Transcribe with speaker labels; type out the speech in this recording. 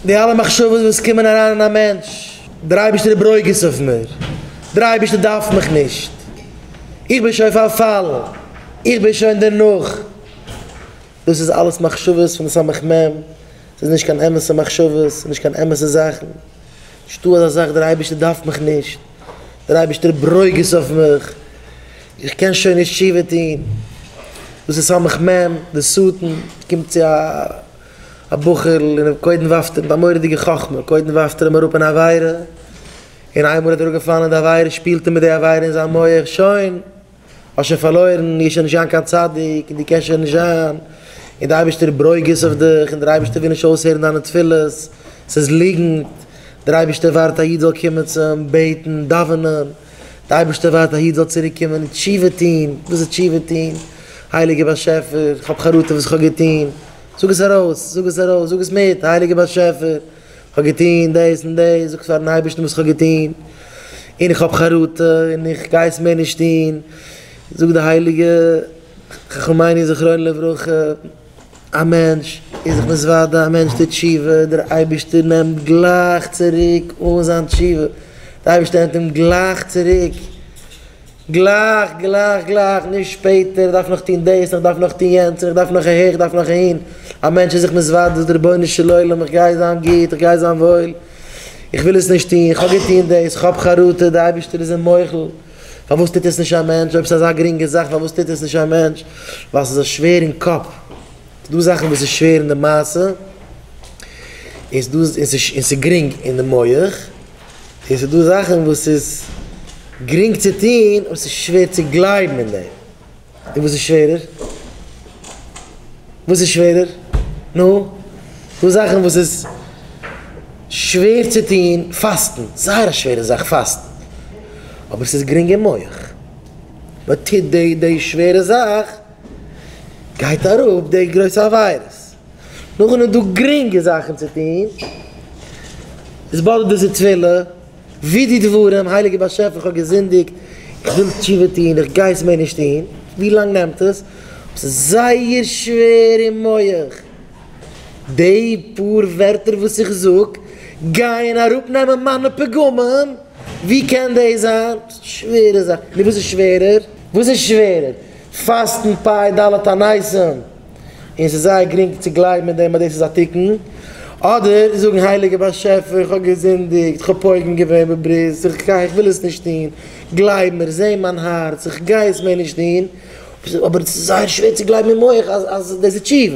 Speaker 1: די אלע מחשבות וואס קומען אריין אין א מענטש, דער אייבערשטער איז ברוגז אויף מיר, דער אייבערשטער דארף מיך נישט, איך בין שוין פארפאלן, איך בין שוין דערנאך, דאס איז אלעס מחשבות פון די סמך מם, ס'איז נישט קיין אמת'ע מחשבות, ס'איז נישט קיין אמת'ע זאכן, נישטא אזא זאך דער אייבערשטער דארף מיך נישט, דער אייבערשטער איז ברוגז אויף מיך, איך קען שוין נישט תשובה טון, דאס איז סמך מם, די שטן קומט צו א. א בחור'ל און אים קודם ווארפט ער מיט א מורא'דיגע חכמה, קודם ווארפט ער אים אראפ אין א עבירה, און איינמאל ער איז אראפגעפאלן אין די עבירה שפילט ער מיט די עבירה אין זיין מח, שוין! האסט שוין פארלוירן, דו גייסט שוין נישט זיין קיין צדיק, און דו קענסט שוין נישט זיין, און די אייבערשטער ברוגז אויף דיך, און דער אייבערשטער וויל נישט אויסהערן דיינע תפילות, ס'איז ליגנט, דער אייבערשטער ווארט א איד זאל קומען צו אים בעטן, דאווענען. די אייבערשטער ווארט א איד זאל צוריק קומען און תשובה טוהן, וואס איז תשובה טוהן? הייליגער באשעפער כ'האב חרטה וואס כ'האב געטוהן, זאג עס ארויס, זאג עס ארויס, זאג עס מיט, הייליגער באשעפער כ'האב געטוהן דאס און דאס, זאג פארן אייבערשטן וואס כ'האב געטוהן, און איך האב חרטה און איך גיי עס מער נישט טוהן, זאג די הייליגע חכמינו זכרונם לברכה. א מענטש איז זיך מתוודה, א מענטש טוט תשובה, דער אייבערשטער נעמט גלייך צוריק אן זיין תשובה, דער אייבערשטער נעמט אים גלייך צוריק, גלייך גלייך גלייך, נישט שפעטער, איך דארף נאך טון דאס, איך דארף נאך טון יענץ, איך דארף נאך אהער, איך דארף נאך אהין, א מענטש איז זיך מתוודה, זאגט רבונו של עולם איך גיי זיין גוט, איך גיי זיין וואויל, איך וויל עס נישט טון, איך האב געטון דאס, איך האב חרטה, דער אייבערשטער איז אים מוחל. פארוואס טוט עס נישט א מענטש? אויב ס'איז אזא גרינגע זאך פארוואס טוט עס נישט א מענטש? ווייל ס'איז א שווער אין קאפ. ס'דא זאכן וואס איז שווער אין די מעשה, און ס'דא און ס'איז און ס'איז גרינג אין די מח, און ס'דא זאכן וואס איז גרינג צו טון און ס'איז שווער צו גלייבן אין דעם. און וואס איז שווערער? וואס איז שווערער? נו, דא זאכן וואס איז שווער צו טון, פאסטן, זייער א שווערע זאך פאסטן, אבער עס איז גרינג אין מח, מען טוט די די שווערע זאך, גייט אראפ די גרויסע עבירות, נאכדעם איז דא גרינגע זאכן צו טון, עס באדערט די ס'טבילה. ווי די דברים, הייליגער באשעפער איך האב געזינדיגט, איך וויל תשובה טון, איך גיי עס מער נישט טון, ווי לאנג נעמט עס? עס איז זייער שווער אין מח, די פאר ווערטער וואס איך זאג גייען אראפ נעמען מיינע פגמים, ווי קען דאס זיין? שווערע זאכן, נו וואס איז שווערער? וואס איז שווערער? פאסטן פאי ד' הנייסים, און עס איז זייער גרינג צו גלייבן אין דעם אז דאס איז א תיקון, אדער זאגן הייליגער באשעפער איך האב געזינדיגט, איך האב פוגם געווען בברית, איך גיי, איך וויל עס נישט טון, גלייב מיר, זע מיין הארץ, איך גיי עס מער נישט טון, אבער עס איז זייער שווער צו גלייבן אין מח אז דאס איז תשובה.